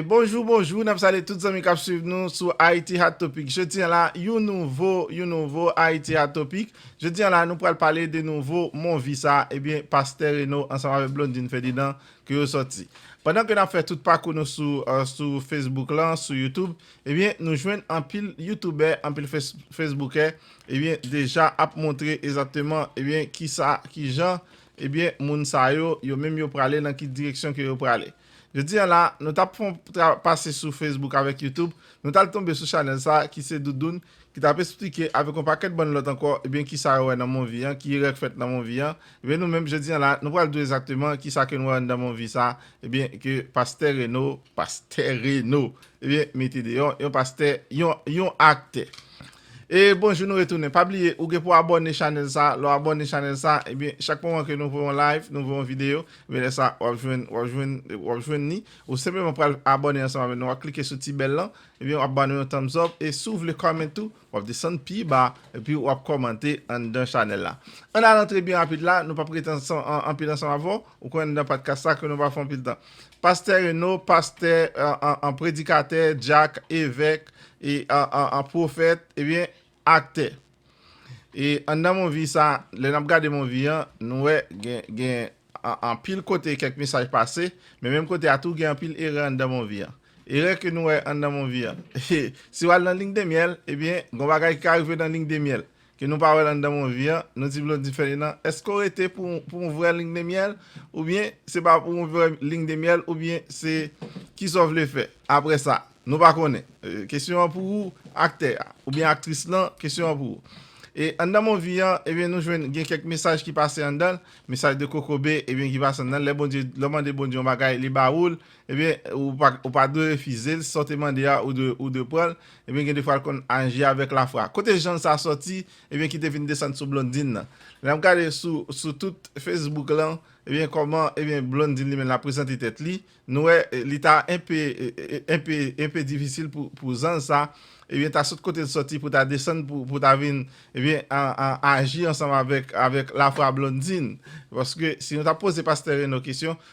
Bonjou bonjou nap salye tout zanmi kap swiv nou sou Haiti Hot Topic jodi an la yon nouvo yon nouvo Haiti Hot Topic jodi an la nou pral pale de nouvo mon vi sa ebyen pastè Reno ansanm avèk Blondine Ferdinand ke yo sòti pandan ke nap fè tout pakou nou sou Facebook lan sou YouTube ebyen nou jwenn anpil youtubè anpil fesboukè ebyen deja ap montre ezateman ebyen kisa kijan Ebyen moun sa yo, yo menm yo prale nan ki direksyon ke yo prale? Jodi an la, nou tap fon pase sou Facebook avèk YouTube, nou tal tonbe sou chanèl sa ki se Doudoun ki tap esplike avèk yon pakèt bann lòt ankò ebyen kisa yo wè nan monvi an, ki erè k fèt nan monvi an, ebyen nou menm jodi an la nou pral di w ezakteman kisa ke nou wè anndan monvi sa ebyen ke Pastè Reno, Pastè Reno! ebyen mete deyò, yon pastè, yon, yon aktè. E bonjou nou retounen. Pa bliye ou gen pou abòne chanèl sa, lè w abòne chanèl sa ebyen chak moman ke nou ouvri yon live, nou ouvri yon videyo, ebyen lè sa wap jwenn wap jwenn wap jwenn ni, ou senpleman pral abòne ansanm avè nou, wap klike sou ti bèl lan, ebyen wap ba nou yon thumbs up e si w vle comment tou wap desann pi ba epi wap kòmante anndan chanèl la. Ann al antre byen rapid la, nou pap rete anpil ansanm avè w. Ou konn nan patka sa ke nou pa fon pil tan. Pastè Reno, pastè, an predikatè, dyak, evèk, e an pwofèt, e byen aktè. E anndan movie sa, lè nap gade movie an, nou wè gen anpil kote kèk mesaj pase, men menm kote a tou gen anpil erè anndan movie an. Erè ke nou wè anndan movie an, si wal nan Lingdemyèl, e byen gon bagay ki ka rive nan Lingdemyèl. Ke nou pa wèl anndan mon vi an, nou di Blondine Ferdinand, eske w rete pou yon vrè ling de myèl, oubyen se pa pou yon vrè ling de myèl, oubyen se ki sa w vle fè aprè sa? Nou pa konnen. Kesyon an pou ou aktè a, oubyen aktris lan, kesyon an pou ou. E anndan mon vi an, ebyen nou jwenn gen kèk mesaj ki pase anndan l, mesaj de kokobe, ebyen ki pase anndan l, lè Bondye, lè w mande Bondye yon bagay, li ba ou l, Ebyen ou pa dwe refizel, sa w te mande a ou dwe pranl, ebyen gen defwa l konn aji avèk lafwa. Kote jan sa sòti ebyen ki te vin desann sou Blondine nan. Lè map gade sou tout Facebook lan ebyen kòman ebyen Blondine li menm lap prezante tèt li, nou wè li ta enpe enpe enpe difisil pou zanj sa ebyen ta sot kote l sòti pou ta desann pou ta vin ebyen aji ansanm avèk avèk lafwa Blondine. Paske si nou ta poze pastè Reno kesyon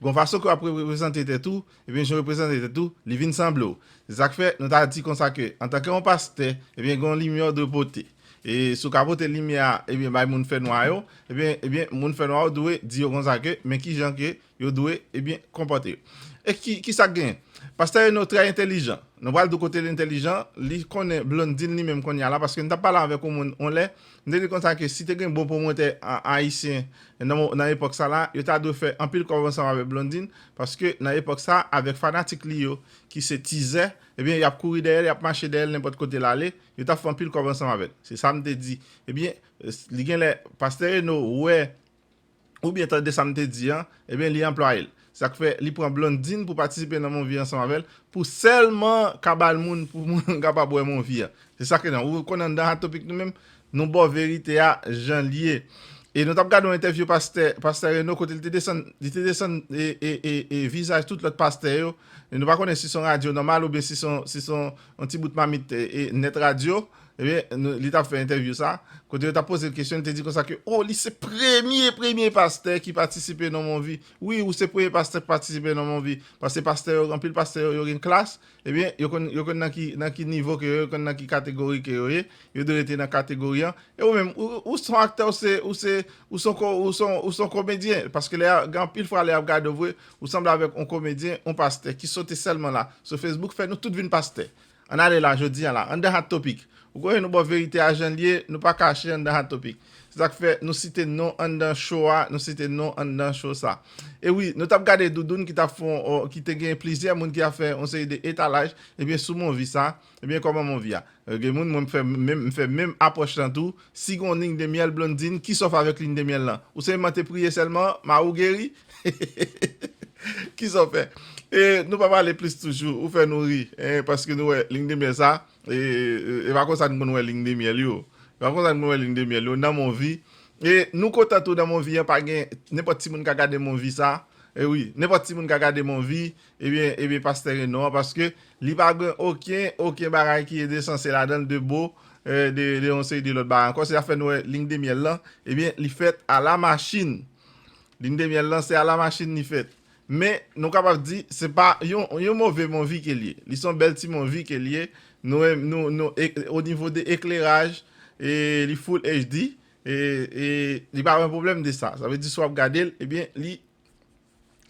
Gon fason ke w ap reprezante tèt ou, ebyen jan w reprezante tèt ou, li vin sanble w. Se sa k fè, nou ta di konsa ke, antanke yon pastè, ebyen gen yon limyè w dwe pote. E si w ka pote limyè a, ebyen bay moun fè nwa yo, ebyen, ebyen moun fè nwa yo dwe di yo konsa ke, men ki jan ke yo dwe, ebyen, konpòte yo. E ki, ki sa k genyen? Pastè Reno trè entelijan. Nou pral di w kote l entelijan, li konnen Blondine li menm kounye a la, paske nou t ap pale avèk yon moun yon lè, M te di konsa ke si te gen bon pwomotè ayisyen nan epòk sa la, yo ta dwe fè anpil kòb ansanm avèk Blondine, paske nan epòk sa, avèk fanatik li yo ki se tizè, ebyen y ap kouri dèyè l, y ap mache dèyè l nenpòt kote l ale, yo t ap fè anpil kòb ansanm avè l. Se sa m te di. Ebyen, li gen lè Pastè Reno wè ou byen tande sa m te di an, ebyen li anplwaye l. Sa k fè li pran Blondine pou patisipe nan Monvi ansanm avè l pou sèlman ka ba l moun pou moun kapab wè Monvi a. Se sa ke nan. Ou konn anndan Hot Topic nou menm, nou ba w verite a jan l ye. E nou t ap gade yon entèvyou pastè, pastè Reno kote l te desann, li te desann e vizaj tout lòt pastè yo. Nou pa konnen si s on radyo nòmal oubyen si s on ti bout mamit nèt radyo. Ebyen, li t ap fè entèvyou sa, kote yo t ap poze l kesyon, li te di konsa ke, o, li se premye, premye pastè ki patisipe nan Monvi. Wi, ou se premye pastè ki patisipe nan Monvi. Paske pastè yo, anpil pastè yo, yo gen klas, ebyen, yo konn, yo konn nan ki, nan ki nivo ke yo ye, yo konn nan ki kategori ke yo ye, yo dwe rete nan kategori an. E ou menm, ou, ou s on aktè, ou se, ou se, ou s on ko, ou s on, ou s on komedyen. Paske lè y a, gen anpil fwa lè y ap gade ou vre, ou sanble avèk on komedyen, on pastè ki sote sèlman la, sou Facebook, fè nou tout vin pastè. Ann ale la jodi an la Andan Hot Topic! Ou konnen nou ba w verite a jan l ye, nou pa kache andan Hot Topic. Se sa k fè nou site non andan cho a, nou site non andan cho sa. E wi, nou t ap gade Doudoun ki t ap fon ki te gen plizyè moun ki ap fè yon seri de etalaj ebyen sou Monvi sa, ebyen kòman Monvi a. Gen moun mwen m fè menm m fè menm apwòch lan tou, Si gon ling de myèl Blondine ki sòf avèk ling de myèl lan? Ou senpman te priye sèlman mari w geri? Kisa w fè? E nou pa pale plis toujou ou fè nou ri hein paske nou wè ling de myèl sa e pa konsa nou konn wè ling de myèl yo e pa konsa nou konn wè ling de myèl yo nan monvi e nou kontan tou nan monvi an pa gen nenpòt timoun ka gade monvi sa e wi nenpòt timoun ka gade monvi Ebyen ebyen pastè gen non an paske li pa gen oken oken bagay ki ede sanse ladanl de bo de de yon seri de lòt bagay ankò se zafè nou wè ling de myèl lan ebyen li fèt a la machin ling de myèl lan se a la machin li fèt men nou kapab di se pa yon yon move monvi kel ye li son bèl ti monvi kel ye nou menm nou nou o nivo de ekleraj e li full HD e e li pa gen pwoblèm de sa sa vle di si wap gadel ebyen li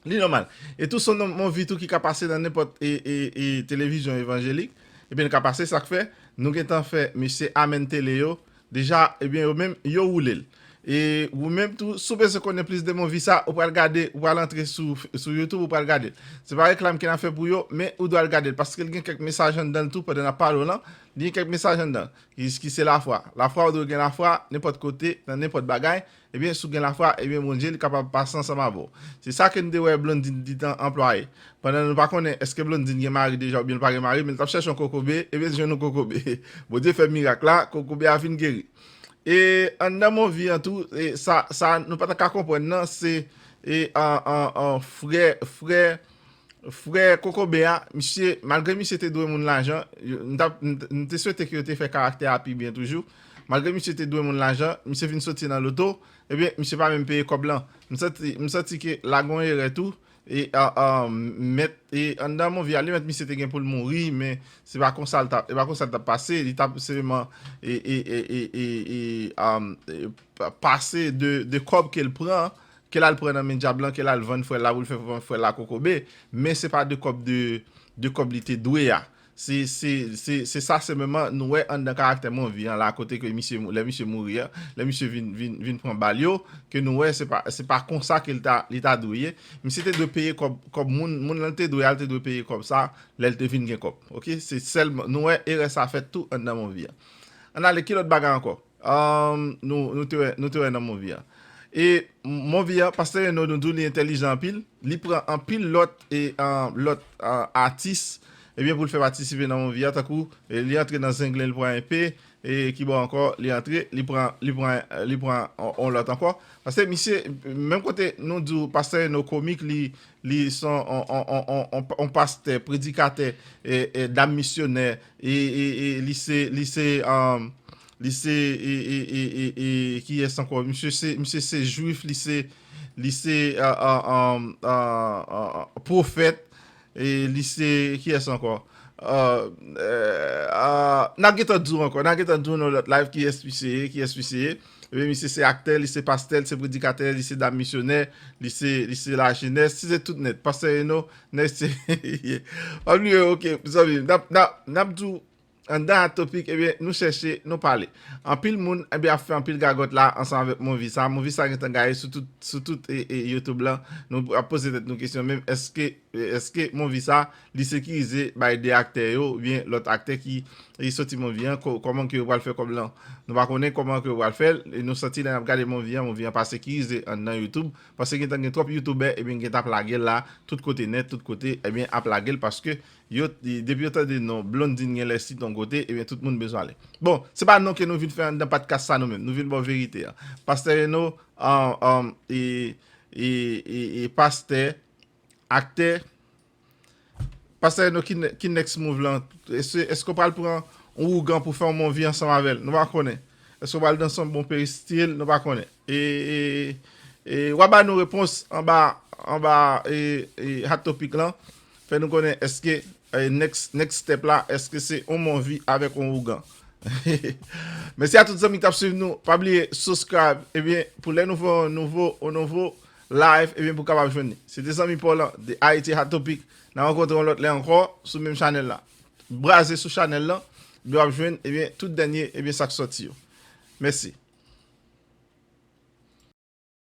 Li nòmal. E tou son nan movie tou ki ka pase nan nenpòt televizyon evanjelik, ebyen li ka pase sa k fè nou gen tan fè mesye Amen Tele yo deja ebyen yo menm yo woule l. E ou menm tou si w bezwen konnen plis de movie sa ou pral gade ou pral antre sou youtube ou pral gade l. Se pa reklam ke n ap fè pou yo men ou dwe al gade l paske l gen kèk mesaj anndan l tou pandan n ap pale w lan li gen kèk mesaj anndan l ki se lafwa. Lafwa ou dwe gen lafwa nenpòt kote nan nenpòt bagay Ebyen si w gen lafwa, ebyen Bondye li kapab pase ansanm avè w. Se sa ke n te wè Blondine gintan anplwaye. Pandan nou pa konnen eske Blondine gen mari deja oubyen l pa gen mari men l t ap chèche yon kokobe, ebyen l jwenn yon kokobe. Bondye fè mirak la, kokobe a fin geri. E anndan Monvi an tou, sa nou pa ta ka konprann nan se frè Frè kokobe a, misye, malgre misye te dwe moun lajan, m ta, m te swete ke yo te fè karaktè a pi byen toujou, malgre misye te dwe moun lajan, misye vin soti nan loto, ebyen misye pa menm peye kòb lan. M santi, m santi ke la gon erè tou, e mèt, e anndan Monvial, li mèt misye te gen pou l mouri, men se pa konsa l ta, e pa konsa l t ap pase, li t ap seleman e, e, e, e, e, e, e, e, pase de kòb ke l pran, Ke l al pran nan men dyab lan, ke l al vann frè l la pou l fè frè l la kokobe, men se pa de kòb de kòb li te dwe a. Se se se se sa senpleman nou wè anndan karaktè Monvi an la kote ke misye lè misye mouri an, lè misye vin vin vin pran bal yo, ke nou wè se pa se pa konsa ke l ta li ta dwe ye. Misye te dwe peye kòb kòb moun moun lan l te dwe a l te dwe peye kòb sa lè l te vin gen kòb. Ok se sèlman nou wè erè sa fèt tou anndan Monvi an. Ann ale ki lòt bagay ankò? Nou te wè nan movie an. E movie an pastè Reno nou diw li entèlijan anpil, li pran anpil lòt e lòt atis ebyen poul fè patisipe nan movie an tankou li antre nan zenglen li pran enpe e kibò ankò li antre li pran li pran li pran on lòt ankò pase misye menm kote nou diw pastè Reno komik li li son on on on pastè predikatè e dam misyonè Li se kiyes anko. Misye se jwif li se profet li se kiyes anko. Nap gentan di w anko nap gentan di w nan lot live kiyes misye ye. Ebyen misye se aktè, li se pastè, li se predikatè, li se dam misyonè, li se, li se lajenès, si se tout nèt, pastè Reno, nèg se, ye. Pa bliye ok zanmi m, nap, nap, nap di w anndan Hot Topic ebyen nou chèche, nou pale. Anpil moun ebyen ap fè anpil gagòt la ansanm avèk movi sa, movi sa gentan gaye sou tout, sou tout e, e youtube lan, nou ap poze tèt nou kesyon menm èske Eske movie sa li sekirize bay 2 aktè yo ou byen lòt aktè ki soti movie an kòman ke yo pral fè kòb lan nou pa konnen kòman ke yo pral fèl e nou santi lè nap gade movie an movie an pa sekirize anndan youtube paske gentan gen twòp youtubè ebyen gentan ap lagel la tout kote nèt tout kote ebyen ap lagel paske yo depi yo tande non Blondine genlè sit yon kote ebyen tout moun bezwen ale bon se pa non ke nou vin fè anndan patkas sa nou menm nou vin baw verite an pastè Reno e pastè Aktè Pastè Reno ki next move lan? Eske w pral pran yon ougan pou fè yon bon vi ansanm avè l? Nou pa konnen. Eske w pral danse yon bon peristil? Nou pa konnen. E w ap ba nou repons anba hot topic lan. Fè nou konnen eske Next next step la eske se on monvi avek on ougan Mesi a tout zanmi kap swiv nou pa bliye subscribe ebyen pou lè nou fè on nouvo on nouvo live ebyen pou kapab jwenn li se te zanmi paw lan de Haiti hot topic na rankontre on lot lè anko sou menm chanel la braze sou chanel lan ebyen wap jwenn ebyen tout dènye ebyen sak soti yo mesi.